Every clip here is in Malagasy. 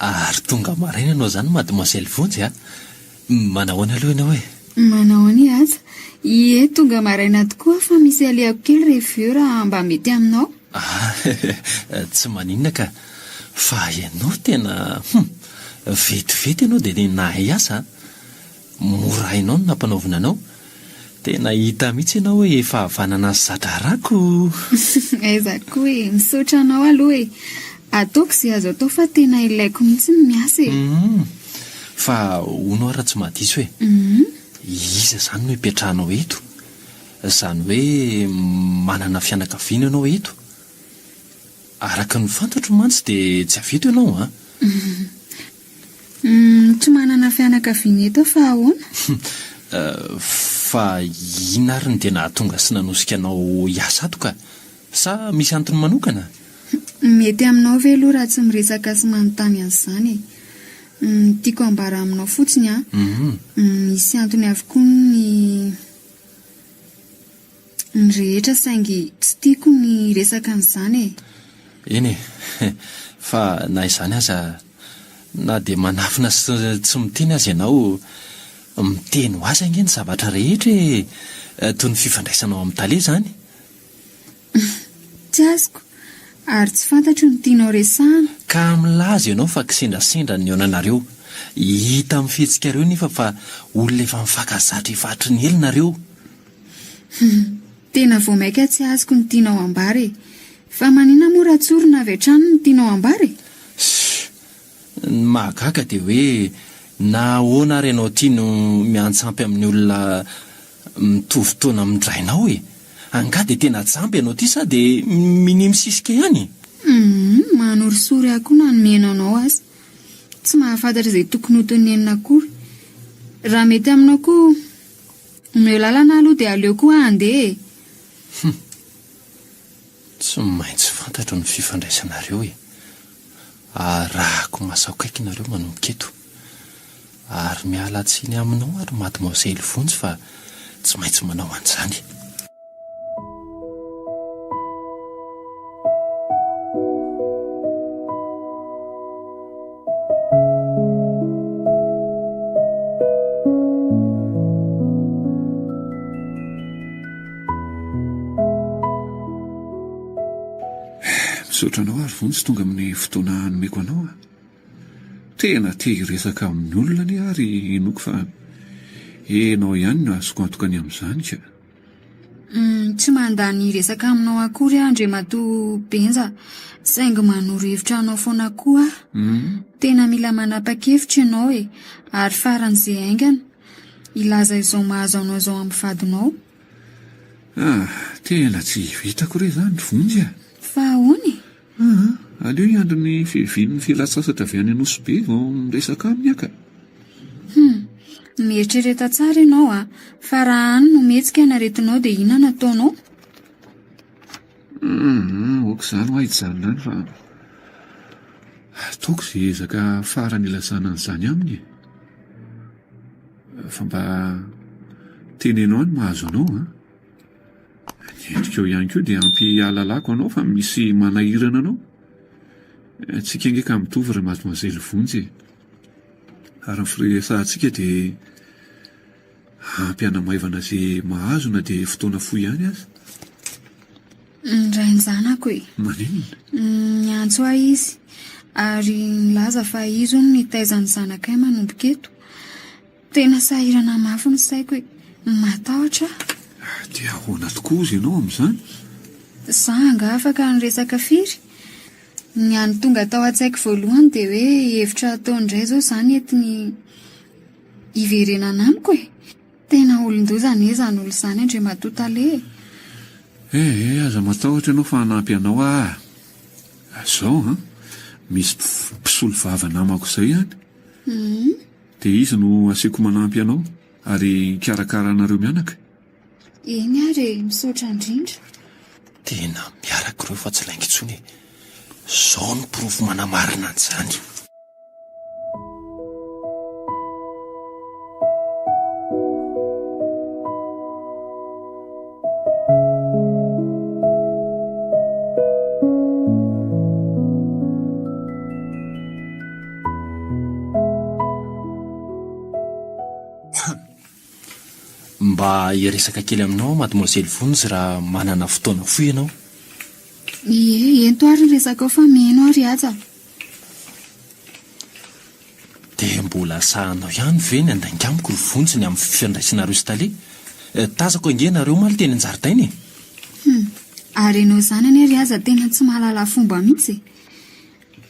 Ary tonga maraina ianao izany mademoiselle Vonjy a! Manao ahoana aloha ianao e? Manao anie aza. Ie, tonga maraina tokoa aho fa misy alehako kely ry vieux raha mba mety aminao. Ah, tsy maninona ka. Fa ianao tena, hum, vetivety ianao dia tena nahay asa a! Mora hainao ny nampanaovina anao. Tena hita mihitsy ianao hoe efa havanana ny za-draharahako oh! Aiza koa e! Misaotra anao aloha e! Ataoko izay azo atao fa tena ilaiko mihitsy ny miasa e! Hum! Fa hono aho raha tsy mahadiso e! Iza izany no hipetrahanao eto? Izany hoe manana fianakaviana ianao eto? Araka ny fantatro mantsy dia tsy avy eto ianao an! Humm tsy manana fianakaviana eto aho fa ahoana? Humm fa inona ary no dia nahatonga sy nanosika anao hiasa ato ka? Sa misy antony manokana? Humm mety aminao ve aloha raha tsy miresaka sy manontany an'izany e? Humm ny tiako ambara aminao fotsiny an, humm misy antony avokoa ny. ny rehetra saingy tsy tiako ny hiresaka an'izany e! Eny e! Fa na izany aza, na dia manafina sy tsy miteny aza ianao, miteny ho azy ange ny zavatra rehetra e! Toy ny fifandraisanao amin'ny tale izany. Tsy azoko, ary tsy fantatro ny tianao resahana. Ka milaza ianao fa kisendrasendra ny nihaonanareo. Hita amin'ny fihetsikareo nefa fa olona efa mifankazatra efa hatry ny ela nareo. Hum, tena vao maika tsy azoko ny tianao ambara e! Fa manina moa Ratsorona avy hatrany no tianao ambara e? Shuh! Ny mahagaga dia hoe na ahoana ary ianao ity no miantsampy amin'ny olona mitovy taona amin-drainao e! Angaha dia tena jamba ianao ity sa dia minia misisika ihany e? Hum, manorisory ahy koa na ny mihaino anao aza. Tsy mahafantatra izay tokony ho tenenina akory. Raha mety aminao koa. Omeo lalana aloha dia aleo koa handeha e! Hum. Tsy maintsy fantatro ny fifandraisanareo e! Arahako masakaiky nareo manomboka eto. Ary miala tsiny aminao ary Mademoiselle Vonjy fa tsy maintsy manao an'izany. Misaotra anao ary vonjy tonga amin'ny fotoana nomeko anao. Tena te hiresaka amin'ny olona anie ary inoako fa ianao ihany no azoko antoka ny amin'izany ka. Tsy mandany resaka aminao akory aho Andriamatoa Benja saingy manoro hevitra anao foana koa aho. Hmm. Tena mila manapa-kevitra ianao e. Ary faran'izay haingana, hilaza izao mahazo anao izao amin'ny vadinao. Ah, tena tsy vitako re izany, vonjy ah. Fa ahoana e? Aa! aleo hiandry ny fiavian'ny fialan-tsasatra avy any Anosibe vao miresaka aminy aho ka! Hum! mieritrereta tsara ianao a! fa raha any no mihetsika ny aretinao dia inona no ataonao? Aa! aoka izany hoa hijanona any fa ataoko izay ezaka farany hilazana an'izany aminy e! fa mba teneno ahy ny mahazo anao a! Endrikao ihany koa dia ampy ahalalako anao fa misy manahirana anao. Antsika ange ka mitovy ry mademoiselle Vonjy e. Ary ny firesahantsika dia ampy hanamaivana izay mahazo na dia fotoana fohy ihany aza. Ny rain-janako e. Maninona? Niantso ahy izy ary nilaza fa izy hono nitaiza ny zanakay manomboka eto. Tena sahirana mafy ny saiko e. Matahotra aho. Dia ahoana tokoa ozy ianao amin'izany? Za angaha afaka ny resaka firy? Ny any tonga tao an-tsaiko voalohany dia hoe hevitra atao indray izao izany entiny hiverenana amiko e. Tena olon-doza anie izany olona izany Andriamatoa Tale e. Eh eh, aza matahotra ianao fa hanampy anao aho. Izao an, misy mpisolo vava namako izay any. Hum. Dia iza no asiako manampy anao ary hikarakara anareo mianaka? Eny ary e, misaotra indrindra. Tena miaraka ireo fa tsy lainga intsony e. Izao no porofo manamarina an'izany. Mba hiresaka kely aminao aho, Mademoiselle Vons, raha manana fotoana fohy ianao. Ie, ento ary ny resakao fa mino aho ry Haja. Dia mbola sahanao ihany ve ny handainga amiko ry Vons ny amin'ny fifandraisanareo sy Tale? Eh, tazako ange ianareo omaly teny an-jaridaina e! Hum, ary ianao izany anie ry Haja tena tsy mahalala fomba mihitsy e!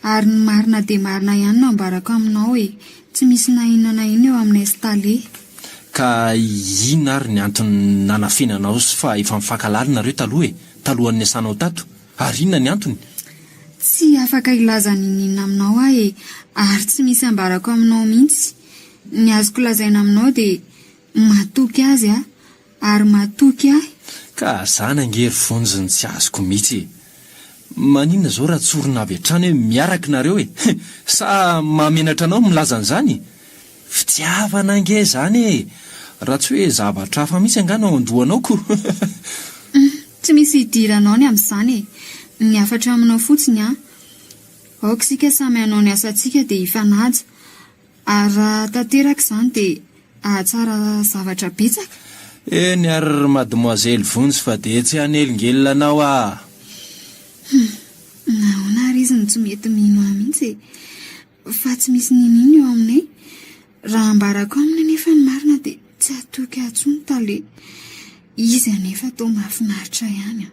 Ary ny marina dia marina ihany no ambarako aminao e! Tsy misy na inona na inona eo aminay sy Tale. Ka inona ary ny antony nanafenanao sy fa efa mifankahalala nareo taloha e! Talohan'ny niasanao tato? Ary inona ny antony? Tsy afaka hilaza ninoninona aminao aho e! Ary tsy misy ambarako aminao mihitsy. Ny azoko lazaina aminao dia matoky azy aho. Ary mahatoky ahy. Ka zany ange ry vonjy ny tsy azoko mitsy e! Maninona zao raha tsorina avy hatrany hoe miaraka nareo e! Sa mahamenatra anao milaza an'izany? Fitiavana ange zany e! Raha tsy hoe zavatra hafa mitsy angaha no ao an-dohanao ko! Tsy misy hidiranao ny amin'izany e! Ny hafatra aminao fotsiny an! Aoka isika samy hanao ny asantsika dia hifanaja. Ary raha tanteraka izany dia hahatsara zavatra betsaka? Eny ary ry mademoiselle Vonjy fa dia tsy hanelingelina anao aho. Humm, nahoana ary izy no tsy mety mino ahy mihitsy e? Fa tsy misy niniana eo aminay. Raha ambarako aminy anefa ny marina dia tsy hatoky ahy intsony tale. Izy anefa toa mahafinaritra ihany an!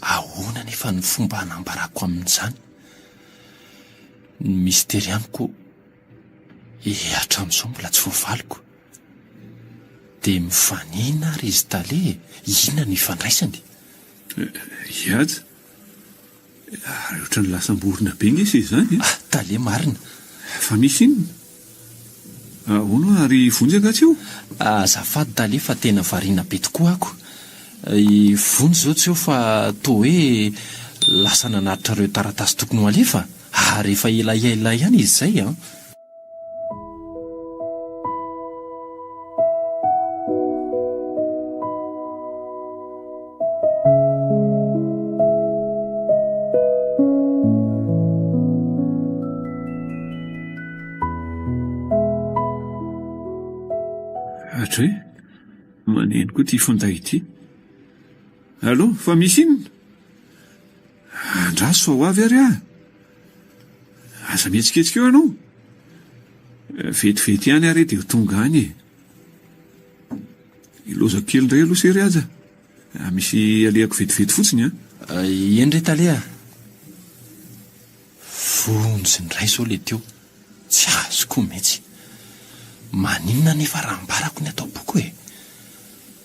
Ahoana anefa no fomba hanambarako amin'izany ny mistery amiko eh hatramin'izao mbola tsy voavaliko. Dia mifanena ary izy tale e, inona no ifandraisany? Ry Haja, ary ohatran'ny lasam-borona be nge se izany e! Ah, tale marina! Fa misy inona? Ahoana ary Vonjy angaha tsy eo? Azafady Dale fa tena variana be tokoa ako. I Vonjy izao tsy eo fa toa hoe lasa nanatitra ireo taratasy tokony ho alefa ary efa ela ela ihany izy izay an! Hatray, maneno koa ity finday ity. Allo, fa misy inona? Andraso fa ho avy ary aho. Aza mihetsiketsika eo ianao. Vetivety ihany ary dia ho tonga any e. Hilaozako kely indray aloha se ry Haja. Ah, misy alehako vetivety fotsiny an. Ah. Ah, eny re Tale ah. Vonjy indray izao ilay teo. Tsy azoko mihitsy. Maninona anefa raha ambarako ny ato am-poko e?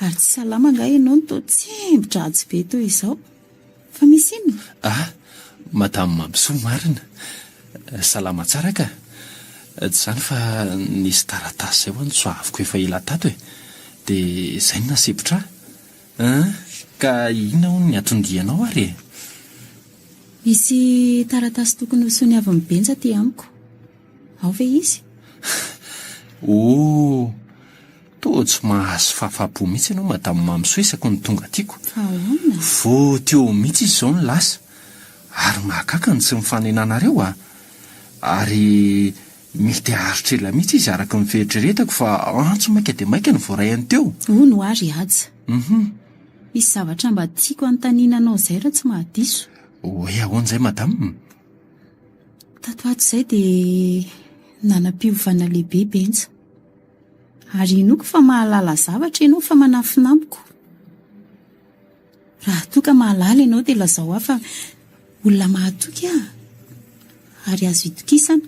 Ary tsy salama angaha ianao no toa tsembo-dratsy be toy izao? Fa misy inona? Ah! Madame Mampisoa marina! Salama tsara ka! Tsy izany fa nisy taratasy izay ho'a nitsoaviko efa ela tato e! Dia izay no nasempotra ahy! An! Ka inona hono ny atondianao ary e? Misy taratasy tokony ho soniavin'i Benja aty amiko. Ao ve izy? Oh! Toa tsy mahazo fahafapo mihitsy ianao Madame Mamisoa isaky ny tonga aty ko. Ahoana? Vao teo mihitsy izy izao no lasa. Ary mahagaga ny tsy mifanenanareo a! Ary mety haharitra ela mihitsy izy araka ny fieritreretako fa antso maika dia maika no voaraiany teo. Hono ary Haja. Hum. Misy zavatra mba tiako hanontaniana anao izay raha tsy mahadiso. Hoe ahoana izay Madame? Tato ato izay dia nanam-piovana lehibe Benja. Ary inoako fa mahalala zavatra ianao fa manafina amiko. Raha toa ka mahalala ianao dia lazao ahy fa olona mahatoky aho ary azo itokisana.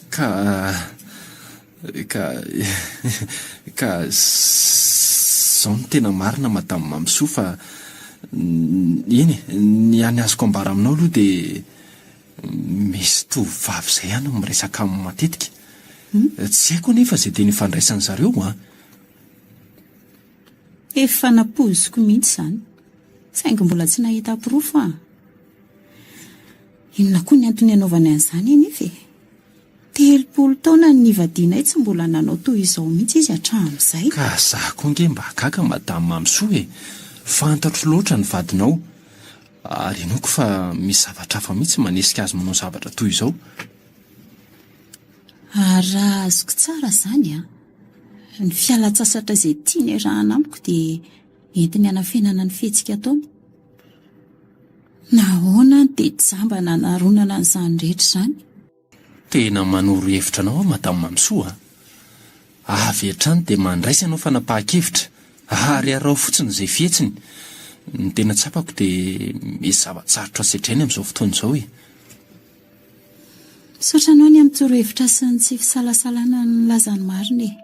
Ka ka ka zao ny tena marina Madame Mamisoa fa eny ny hany azoko ambara aminao aloha dia Misy tovovavy izay ihany no miresaka aminy matetika. Tsy haiko anefa izay teny ifandraisan-dry zareo an! Efa nampoiziko mihitsy izany, saingy mbola tsy nahita porofo aho. Inona koa ny antony anaovany an'izany anefa e? Telopolo taona no nivadianay tsy mbola nanao toy izao mihitsy izy hatramin'izay. Ka za koa ange mba gaga Madame Mamisoa e! Fantatro loatra ny vadinao. Ary inoako fa misy zavatra hafa mihitsy manesika azy manao zavatra toy izao. Ary raha azoko tsara izany an, ny fialan-tsasatra izay tiany arahana amiko dia entiny hanafenana ny fihetsika ataony. Nahoana no dia jamba nanaronana an'izany rehetra izany? Tena manoro hevitra anao aho Madame Mamisoa a! Avy hatrany dia mandraisa anao fanapahan-kevitra ary araho fotsiny izay fihetsiny. Ny tena tsapako dia misy zava-tsarotra sedrainy amin'izao fotoana izao e! Misaotra anao ny amin'ny torohevitra sy ny tsy fisalasalana nilaza ny marina e!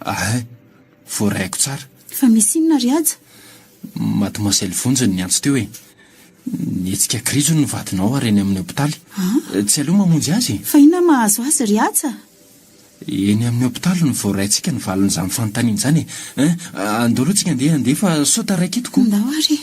Ahay, voarahiko tsara. Fa misy inona ry Haja? Mademoiselle Vonjy no niantso teo e. Nihetsika krijo ny vadinao ary eny amin'ny hopitaly. Ah? Tsy aleo mamonjy azy e. Fa inona mahazo azy ry Haja? Eny amin'ny hopitaly no voaraintsika ny valin'izany fanontaniana izany e. Hein? Andao aloha tsika andeha andeha fa sao taraiky hitako. Ndao ary e.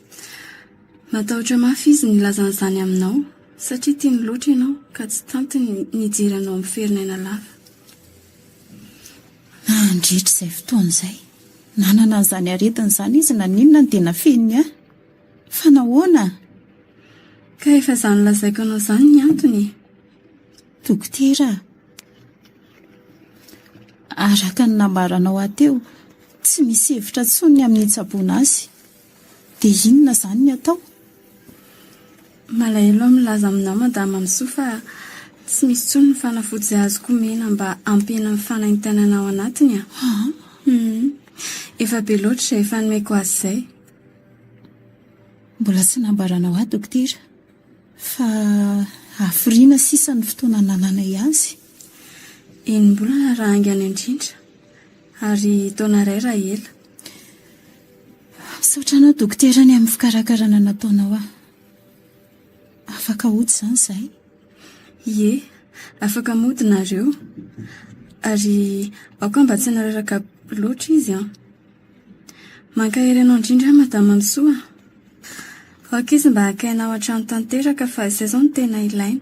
Matahotra mafy izy nilaza an'izany aminao, satria tiany loatra ianao ka tsy tantiny nijery anao miferinaina lava. Nandritra izay fotoana izay, nanana an'izany aretina izany izy na n'inona no dia nafeniny ahy. Fa nahoana? Ka efa izaho nolazaiko anao izany ny antony e! Dokotera, araka ny nambaranao ahy teo, tsy misy hevitra intsony ny amin'ny hitsaboana azy. Dia inona izany ny atao? Malahelo aho milaza aminao Madame Amsoa fa tsy misy intsony ny fanafody azoko omena mba hampihena ny fanaintainana ao anatiny a! Humm! Efa be loatra izay efa nomeko azy izay. Mbola tsy nambaranao ahy dokotera fa hafiriana sisa ny fotoana anananay azy. Enim-bolana raha haingana indrindra. Ary taona iray raha ela. Misaotra anao dokotera ny amin'ny fikarakarana nataonao ahy. Afaka hody izany izahay? Ie, afaka mody nareo. Ary aoka mba tsy hanararaka be loatra izy an! Mankahery anao indrindra aho Madama Misoa. Aoka izy mba haka aina ao an-trano tanteraka fa izay izao no tena ilaina.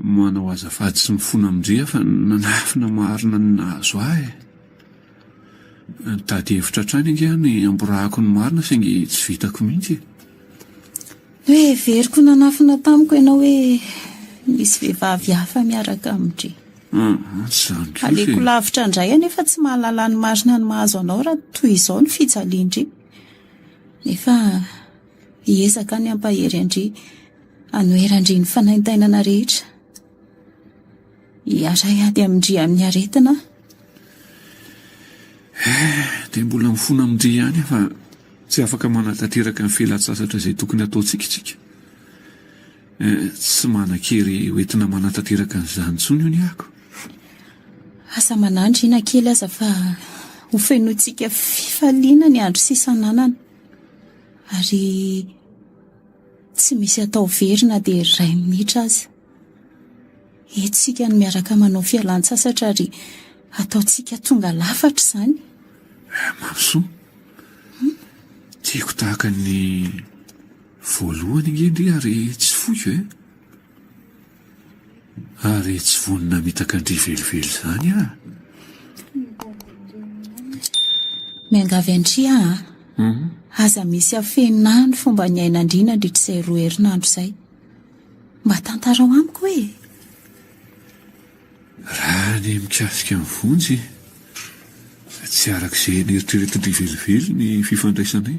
Manao azafady sy mifona amin-dry fa nanafina marina ny nahazo ahy e! Nitady hevitra hatrany ange aho ny hamborahako ny marina saingy tsy vitako mihitsy e! Noheveriko nanafina tamiko ianao hoe misy vehivavy hafa miaraka amin-dry. Aleko lavitra indray anefa tsy mahalala ny marina ny mahazo anao raha toy izao ny fijalian-dry. Nefa. Hiezaka ny hampahery an-dry hanoheran-dry ny fanaintainana rehetra. Hiaray ady amin-dry amin'ny aretina aho. Dia mbola mifona amin-dry ihany aho fa tsy afaka manatanteraka ny fialan-tsasatra izay tokony hataontsika isika. Tsy manan-kery hoentina manatanteraka an'izany intsony hono aho. Aza manandraina kely aza fa hofenointsika fifaliana ny andro sisa ananana. Ary tsy misy atao very na dia iray minitra aza. Hetsika ny miaraka manao fialan-tsasatra ary ataontsika tonga lafatra izany. Eh, Mamisoa. Tiako tahaka ny voalohany ange ndry ary tsy foiko eh. Ary tsy vonona mitaka an-dry velively izany aho. Miangavy an-dry aho an! Aza misy afenina ahy ny fomba niainan-dry nandritra izay roa herinandro izay. Mba tantarao amiko hoe. Raha ny mikasika ny vonjy, tsy araka izay neritreretin-dry velively ny fifandraisanay.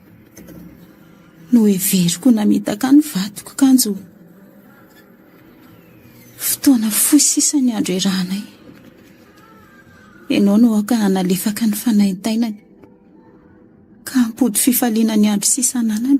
Noheveriko ho namitaka ny vadiko kanjo fotoana fohy sisa ny andro iarahanay. Ianao no aoka hanalefaka ny fanaintainany ka hampody fifaliana ny andro sisa ananany.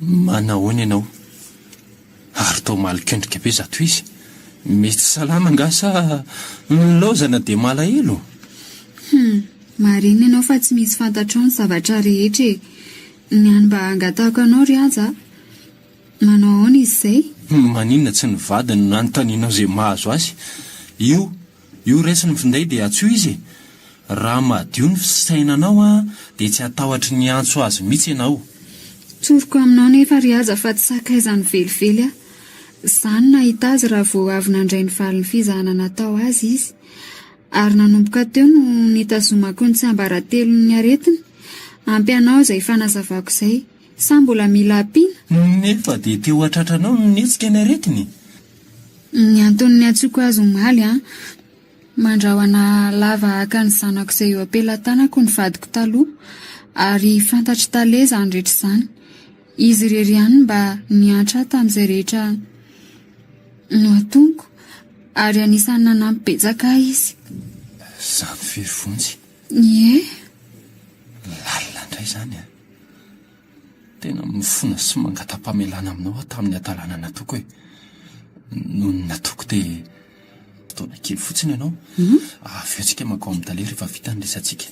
Manahoana ianao? Ary toa malinkendrika be zato izy. Mety salama angaha sa nilaozana dia malahelo? Hum, marina ianao fa tsy misy fantatrao ny zavatra rehetra e! Ny hany mba hangatahako anao ry Haja a! Manao ahoana izy izay? Maninona tsy ny vadiny no nanontanianao izay mahazo azy? Io Io raisin'ny finday dia tsy ho izy e! Raha madio ny fisainanao dia tsy hatahotry ny hiantso azy mihitsy ianao. Tsoriko aminao nefa ry Haja fa tsy sakaizany velively aho. Za no nahita azy raha vao avy nandray ny valin'ny fizahana natao azy izy. Ary nanomboka teo no nitazomako ny tsiambaratelon'ny aretiny. Ampy anao izay fanazavako izay. Sa mbola mila ampiana? Nefa dia te-ho hahatratranao ny nihetsika ny aretiny? Ny antony niantsoako azy omaly an! Mandrahona lava haka ny zanako izay eo am-pelatanako ny vadiko taloha, ary fantatr'i Tale izany rehetra izany. Izy irery ihany no mba niantra ahy tamin'izay rehetra nohatoniko, ary anisan'ny nanampy betsaka ahy izy. Izaho very vonjy. Ie? Lalina indray izany an! Tena mifona sy mangata-pamelana aminao aho tamin'ny hatalana nataoko e. Nony nataoko dia fotoana kely fotsiny ianao. Avy eo tsika mankao amin'ny tale rehefa vita ny resatsika.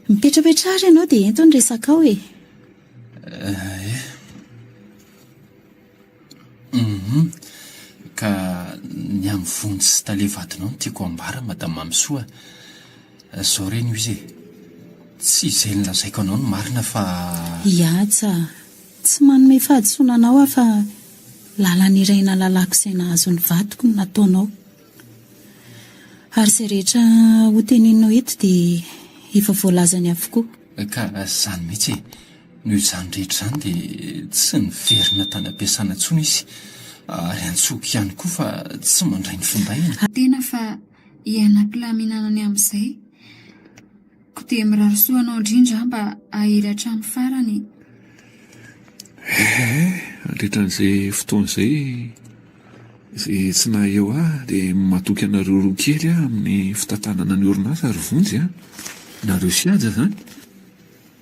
Mipetrapetraha ary ianao dia ento ny resakao e. Eh. Humm. Ka ny amin'ny vonjy sy tale vadinao no tiako ambara Madame Mamisoa a. Izao re no izy e, tsy izay nolazaiko anao no marina fa. Ihatsa a. Tsy manome fahadisoana anao aho fa lalana iray nalalako izay nahazo ny vadiko no nataonao. Ary izay rehetra hoteneninao eto dia efa voalazany avokoa. Ka izany mihitsy e. Noho izany rehetra izany dia tsy niverina tany am-piasana intsony izy, ary antsoiko ihany koa fa tsy mandray ny findainy. Ary tena fa ialako laminana ny amin'izay, koa dia mirary soa anao indrindra aho mba hahery hatramin'ny farany e! Ee, nandritra an'izay fotoana izay, izay tsy naha eo ahy dia matoky anareo roa kely aho amin'ny fitantanana ny orinasa ry Vonjy a! Nareo sy Haja izany.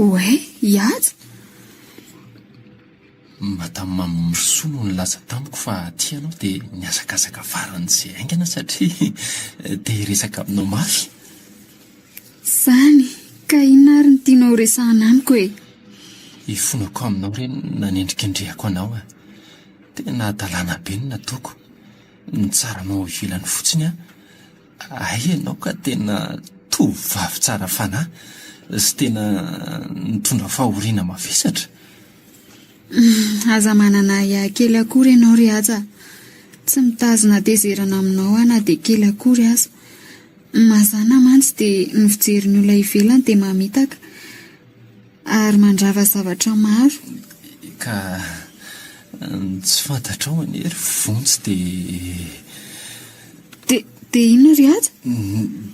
Oay, Ihaja? Madame Mamimrisoa no nilaza tamiko fa aty ianao dia nihazakazaka faran'izay haingana satria te hiresaka aminao mafy. Izany, ka inona ary no tianao horesahana amiko e? Ifonako aminao re no nanendrikendrehako anao a. Tena hadalana be ny nataoko. Nitsaranao ao ivelany fotsiny aho. Hay ianao ka tena tovovavy tsara fanahy sy tena nitondra fahoriana mavesatra. Aza manana ahiahy kely akory ianao ry Haja. Tsy mitazona hatezerana aminao aho na dia kely akory aza. Mazàna mantsy dia ny fijerin'ny olona ivelany dia mamitaka. Ary mandrava zavatra maro. Ka ny tsy fantatrao anie ry vonjy dia. Dia dia inona ry aja?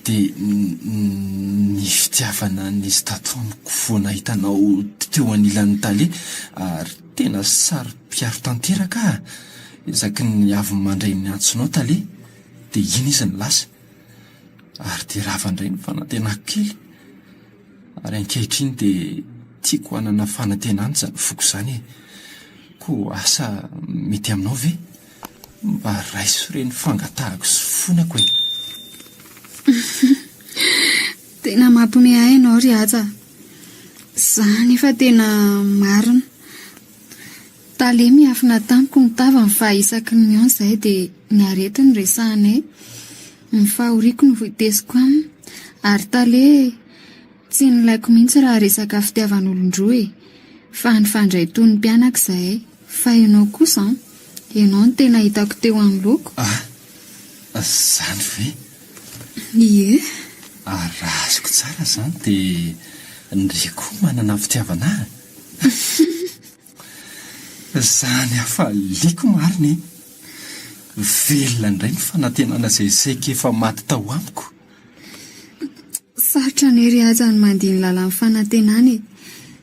Dia ny fitiavana nisy tato amiko vao nahita anao teo anilan'ny tale ary tena saro-piaro tanteraka aho. Isaky ny avy mandray ny antsonao tale dia iny izy no lasa. Ary dia rava indray ny fanantenako kely. Ary ankehitriny dia tiako hanana fanantenana izany foko izany e. Koa asa mety aminao ve? Mba raiso ireny fangatahako sy fonako e. Tena mampime ahy ianao ry Haja. Za nefa tena marina. Tale miafina tamiko ny tavany fa isaky ny mihaona izahay dia ny arety no resahanay. Ny fahoriako no voateziko aminy. Ary Tale tsy nilaiko mihitsy raha resaka fitiavan'olon-droa e! Fa nifandray toy ny mpianaka izahay. Fa ianao kosa an! Ianao no tena hitako teo anoloako. Ah! Izany ve? Ie! Ary raha azoko tsara izany dia ndry koa manana fitiavana ahy? Izany hafaliako marina e! Velona indray ny fanantenana izay saika efa maty tao amiko. Sarotra ny ery aza ny mandihy ny lalan'ny fanantenana e!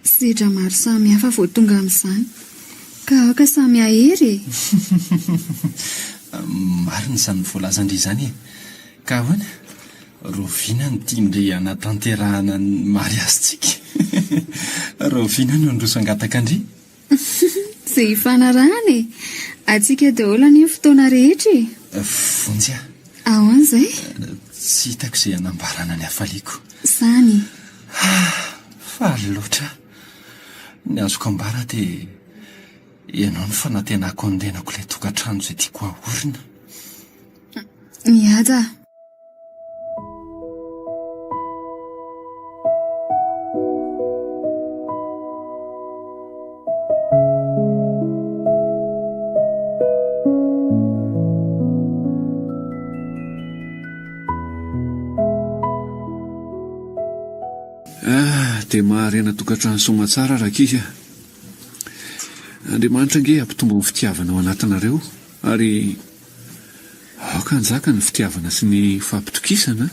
Sedra maro samihafa vao tonga amin'izany. Ka aoka samy hahery e! Marina izany voalazan-dry izany e! Ka ahoana? Rahoviana no tian-dry hanatanterahana ny mariazintsika? Rahoviana no handroso hangataka-ndry? Tsy hifanarahana e! Antsika daholo anie ny fotoana rehetra e! Vonjy aho. Ahoana izay? Tsy hitako izay hanambarana ny hafaliako. Izany. Ah! Faly loatra aho. Ny azoko ambara dia ianao no fanantenako hanondenako ilay tokantrano izay tiako hahorina. Mihaja. dia maharena tokantrano somatsara rakizy a. Andriamanitra ange hampitombo ny fitiavana ao anatinareo ary Aoka hanjaka ny fitiavana sy ny fampitokisana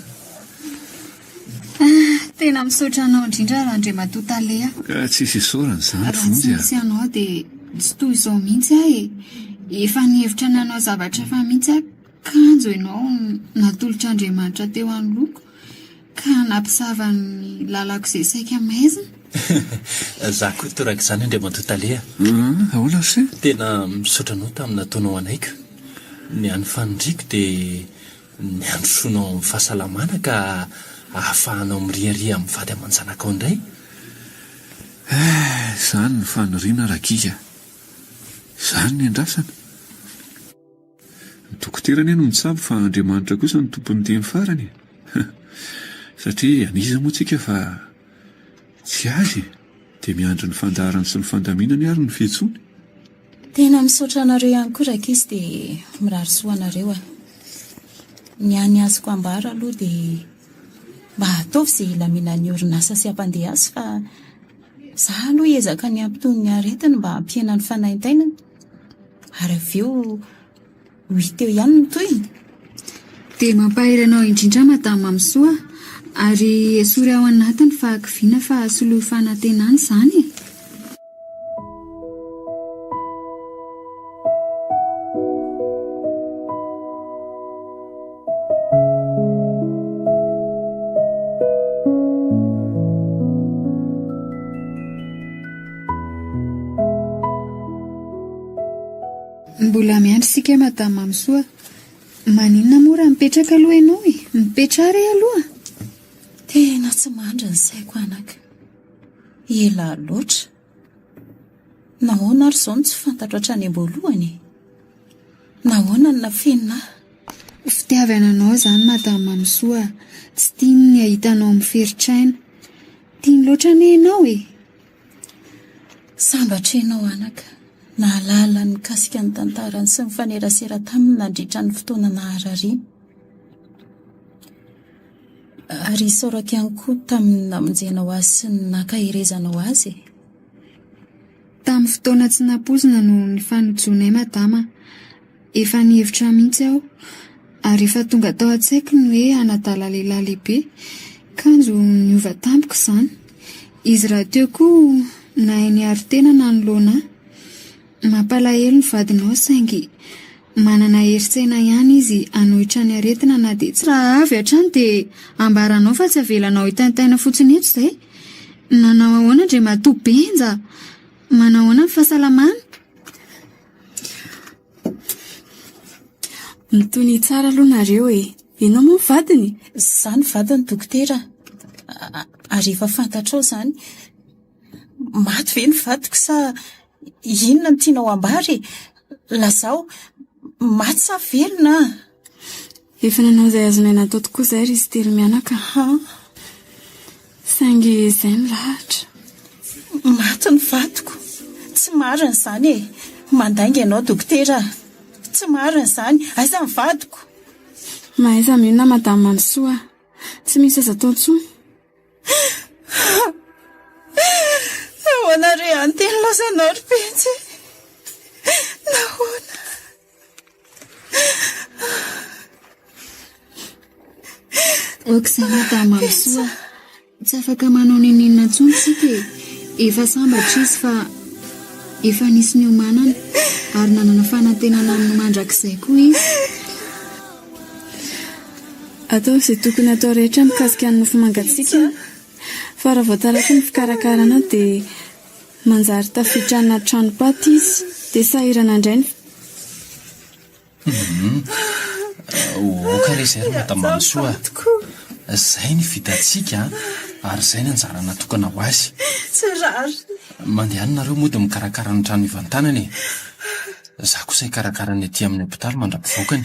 a! Tena misaotra anao indrindra Randriamatoa Taleha. Ka tsy hisy isaorana izany Vonjy a! Raha tsy nisy anao dia tsy toy izao mihitsy aho e! Efa nihevitra ny hanao zavatra hafa mihitsy aho, kanjo ianao natolotr'Andriamanitra teo anoloako. Ka nampisava ny lalako izay saika maizina. Za koa toraka izany Andriamatoa Tale a! Ahoana ry se? Tena misaotra anao tamin'ny nataonao anaiky. Ny an'ny faniriako dia ny handrosoanao amin'ny fahasalamana ka ahafahanao miriaria amin'ny vady aman-janakao indray. Eh, izany ny faniriana Ragika. Izany ny andrasana. Dokotera anie no mitsabo fa Andriamanitra kosa no tompon'ny teny farany e! Satria an'iza moa tsika fa tsy Azy e! Dia miandry ny fandaharany sy ny fandaminany ary ny fihetsoany. Tena misaotra anareo ihany koa rankizy dia mirary soa anareo aho. Ny ahy ny azoko ambara aloha dia mba ataovy izay hilaminan'ny orinasa sy hampandeha azy fa izaho aloha hiezaka ny hampitony ny aretiny mba hampihena ny fanaintainany. Ary avy eo, ho hita eo ihany ny tohiny. Dia mampahery anao indrindra Madame Mamisoa, ary esory ao anaty ny fahakiviana fa soloy fanantenana izany e! Mbola miandry isika Madame Mamisoa. Maninona moa raha mipetraka aloha ianao e? Mipetraha re aloha. Tena tsy mandry ny saiko anaka. Ela loatra. Nahoana ary izao no tsy fantatro hatrany am-boalohany e? Nahoana no nafenina ahy? Fitiavana anao izany Madame Mamisoa. Tsy tiany ny hahita anao miferitr'aina. Tiany loatra anie ianao e. Sambatra ianao anaka nahalala ny mikasika ny tantarany sy nifanerasera taminy nandritra ny fotoana naharariany. Ary isaorako ihany koa tamin'ny namonjenao azy sy ny nankaherezanao azy e. Tamin'ny fotoana tsy nampoizina no nifanojonay Madama. Efa nihevitra mihitsy aho, ary efa tonga tao an-tsaiko ny hoe hanadala lehilahy lehibe. Kanjo niova tampoka izany. Izy rahateo koa nahay niaro tena nanoloana ahy. Mampalahelo ny vadinao saingy manana herin-tsaina ihany izy hanohitra ny aretina na dia tsy Raha avy hatrany dia ambaranao fa tsy avelanao hitaintaina fotsiny eto izay. Nanao ahoana Andriamatoa Benja? Manahoana ny fahasalamany? Mitonia tsara aloha nareo e! Ianao moa ny vadiny? Izaho no vadiny dokotera. Ary efa fantatrao izany. Maty ve ny vadiko sa inona no tianao ambara e? Lazao, maty sa velona? Efa nanao izay azonay natao tokoa izay ry izy telo mianaka. Ha! Saingy izay milahatra. Maty ny vadiko. Tsy marina izany e! Mandainga ianao dokotera. Tsy marina izany. Aiza ny vadiko? Mahaiza mionona Madame Mamisoa. Tsy misy aza atao intsony. Nahoana re any teny laozanao ry Pentsy e? Nahoana? Oksana Tamamisoa, tsy afaka manao n'inon'inona intsony tsika e. Efa sambatra izy fa efa nisy niomanana ary nanana fanantenana amin'ny mandrakizay koa izy. Atao izay tokony atao rehetra mikasika ny nofo mangatsiaka fa raha vao tarafin'ny fikarakarana dia Manjary tafiditra anaty tranom-paty izy, dia sahirana indray ny. Hum. Aoka re izay ry Madamanisoa a! Izay ny vitantsika an! Ary izay ny anjara natokana ho azy. Tsy rariny. Mandehana nareo mody mikarakara ny trano hivantanana e! Izaho kosa hikarakara ny aty amin'ny hopitaly mandra-pivoakany.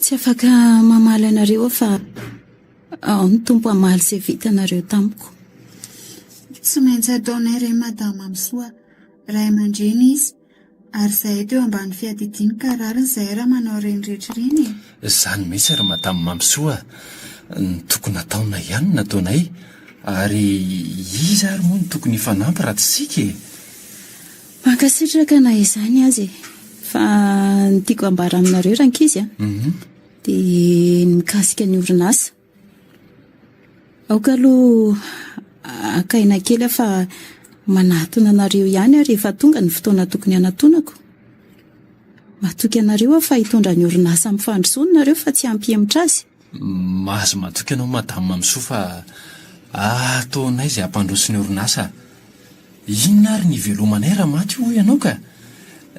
Tsy afaka mamaly anareo aho fa ao ny Tompo hamaly izay vitanareo tamiko. Tsy maintsy ataonay re Madama Misoa, ray aman-dreny izy, ary izahay teo ambany fiadidiany ka rariny izahay raha manao ireny rehetra ireny e! Izany mihitsy ry Madama Mamisoa no tokony hataonay ihany no nataonay, ary iza ary moa no tokony hifanampy raha tsy isika e! Mankasitraka na izany aza e! Fa ny tiako ambara aminareo rankizy a, dia ny mikasika ny orinasa. Aoka aloha haka aina kely aho fa manatona anareo ihany aho rehefa tonga ny fotoana tokony hanatonako. Matoky anareo aho fa hitondra ny orinasa amin'ny fandrosoany nareo fa tsy hampihemotra azy. Mahazo matoky ianao Madame Mamisoa fa ataonay izay hampandroso ny orinasa. Inona ary ny hivelomanay raha maty hoy ianao ka!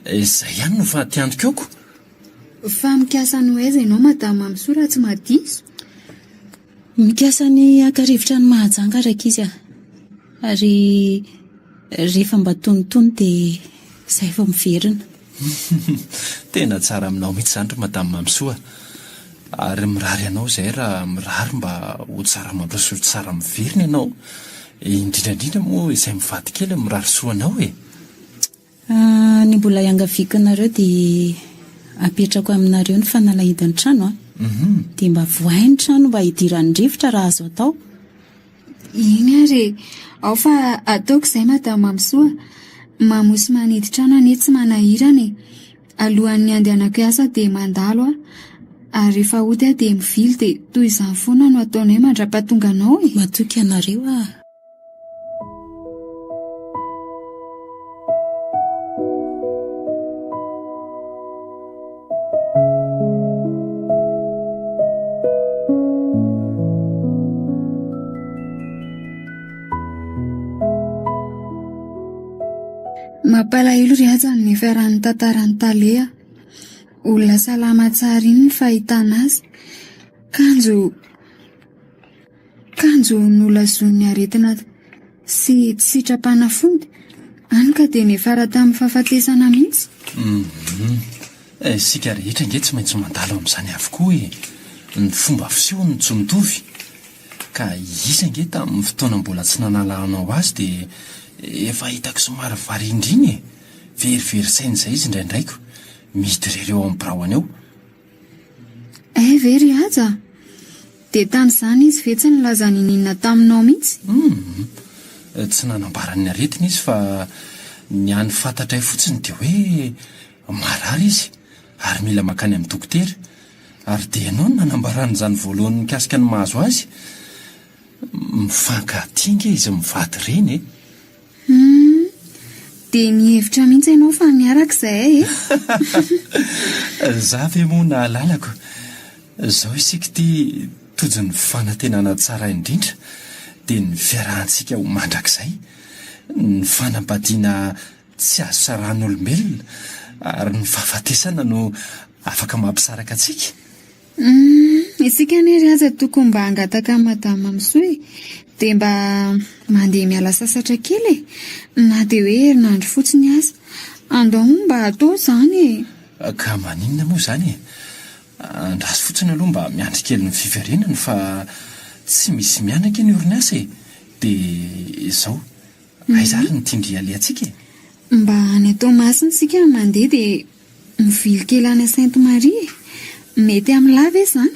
Izay ihany no fahatiantokaoko. Fa mikasa hanao aiza ianao Madame Mamisoa raha tsy maha diso? Mikasa ny haka rivotra any Mahajanga rankizy a! Ary rehefa mba tonitony dia izay vao miverina. Tena tsara aminao mihitsy izany ry Madame Mamisoa. Ary mirary anao izahay raha mirary mba ho tsara mandroso tsara miverina ianao. Indrindra indrindra moa izay mivady kely mirary soa anao e. Ny mbola iangaviako anareo dia apetrako aminareo ny fanalahidin'ny trano an. Dia mba vohay ny trano mba hidiran'ny rivotra raha azo atao. Eny ary e! Ao fa ataoko izay Madame Mamisoa. Mamo sy manidy trano anie tsy manahirana e! Alohan'ny handehanako hiasa dia mandalo aho, ary rehefa hody aho dia mivily dia toy izany foana no ataonay mandra-pahatonga anao e! Matoky anareo aho. Mampalahelo ry aza ny fiaran'ny tantaran'ny taleha. Olona salama tsara iny ny fahitana azy. Kanjo Kanjo nolazoin'ny aretina sy tsy sitrapanafody, any ka dia niafara tamin'ny fahafatesana mihitsy. Mhm. Eh, isika rehetra ange tsy maintsy mandalo amin'izany avokoa e. Ny fomba fiseho no tsy mitovy. Ka izy ange tamin'ny fotoana mbola tsy nanalahanao azy dia efa hitako somary varindrina e. Verivery saina izay izy indraindray ko. Midorereo amin'ny biraony eo. Eh ve ry Haja? Dia tany izany izy ve tsy nilaza niniana taminao mihitsy? Hum, tsy nanambara ny aretiny izy fa ny hany fantatray fotsiny dia hoe marary izy ary mila mankany amin'ny dokotera. Ary dia ianao no nanambarany izany voalohany mikasika ny mahazo azy. Mifankatia ange izy mivady ireny e! Humm. Dia mihevitra mihitsy ianao fa miaraka izahay e! Za ve moa nahalalako. Zao isika ity tojo ny fanantenana tsara indrindra dia ny fiarahantsika ho mandrakizay, ny fanambadiana tsy azo sarahan'olombelona ary ny fahafatesana no afaka mampisaraka antsika. Humm isika anie ry aza tokony mba hangataka an'i madame misoa e! dia mba mandeha miala sasatra kely e! na dia hoe herinandro fotsiny aza! andao hono mba atao izany e! Ka maninona moa izany e! andraso fotsiny aloha mba miandry kely ny fiverenany fa tsy misy mianaka eny orinasa e! dia izao, aiza ary ny tin-dry alehantsika e! Mba any Toamasina isika mandeha dia Mivily kely any Sainte Marie e! Mety amin'ny lahy ve izany?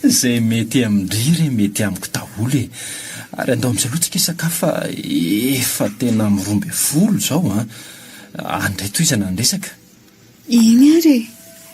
Izay mety amin-dry re mety amiko daholo e! Ary andao mijalò tsika hisakafo fa efa tena amin'ny roa ambin'ny folo izao an! Any indray tohizana ny resaka. Eny ary e!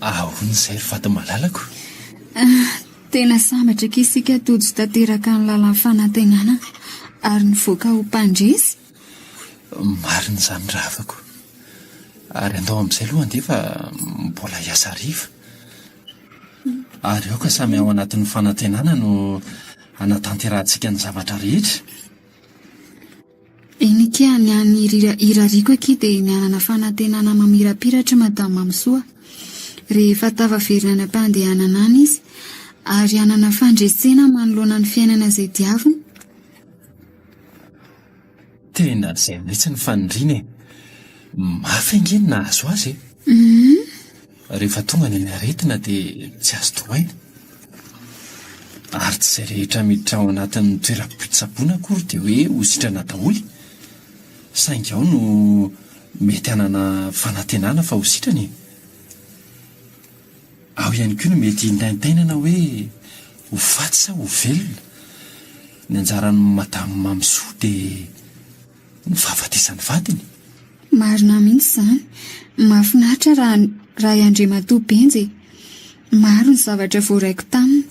Ahoana izay ry vato malalako? Tena sambatra akia isika Tojo tanteraka ny lalan'ny fanantenana ary nivoaka ho mpandresy. Marina izany ry havako. Ary andao amin'izay aloha andeha fa mbola hiasa hariva. Ary aoka samy ao anatin'ny fanantenana no hanatanterahantsika ny zavatra rehetra. Eny akia ny an'ny irariako akia dia ny hanana fanantenana mamirapiratra i Madame Mamisoa rehefa tafaverina any am-pandehanana any izy ary hanana fandresena manoloana ny fiainana izay diaviny. Tena izay mihitsy ny faniriana e! Mafy ange ny nahazo azy e! Humm! Rehefa tonga ny aretina dia tsy azo toroaina. Ary tsy izay rehetra miditra ao anatin'ny toeram-pitsaboana akory dia hoe ho sitrana daholo. Saingy ao no mety hanana fanantenana fa ho sitrana e. Ao ihany koa no mety hintaintainana hoe ho faty sa ho velona. Ny anjaran'i Madame Mamisoa dia. ny fahafatesan'ny vadiny. Marina mihitsy izany. Mahafinaritra raha raha i Andriamatoa Benja e. Maro ny zavatra voaraiko taminy.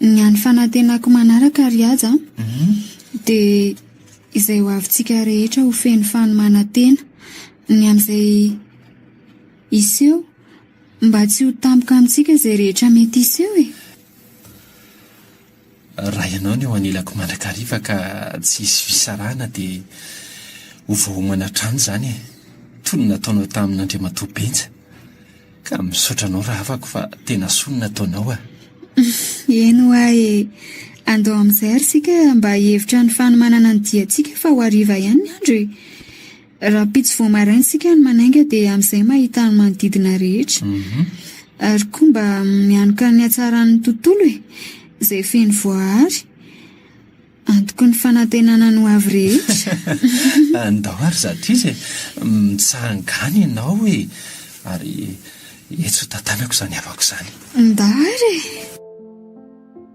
Ny an'ny fanantenako manaraka ry Haja an, dia izay ho avintsika rehetra ho feno fanomanantena. Ny amin'izay hiseho, mba tsy ho tampoka amintsika izay rehetra mety hiseho e. Raha ianao no eo anilako mandrakariva ka tsy hisy fisarahana dia ho voaomana hatrany izany e! Toy ny nataonao tamin'Andriamatoa Benja. Ka misaotra anao rahavako fa tena soa ny nataonao a! Eny hoa e! Andao amin'izay ary isika mba hihevitra ny fanomanana ny diantsika fa ho hariva ihany ny andro e! Rahampitso vao maraina isika no manainga dia amin'izay mahita ny manodidina rehetra. Ary koa mba mianoka ny hatsaran'ny tontolo e! Izay feno voaary. Antoky ny fanantenana ny ho avy rehetra. Andao ary zatriza e! Mitsahangana ianao e! Ary etsy ho tantanako izany havako izany. Ndao ary e!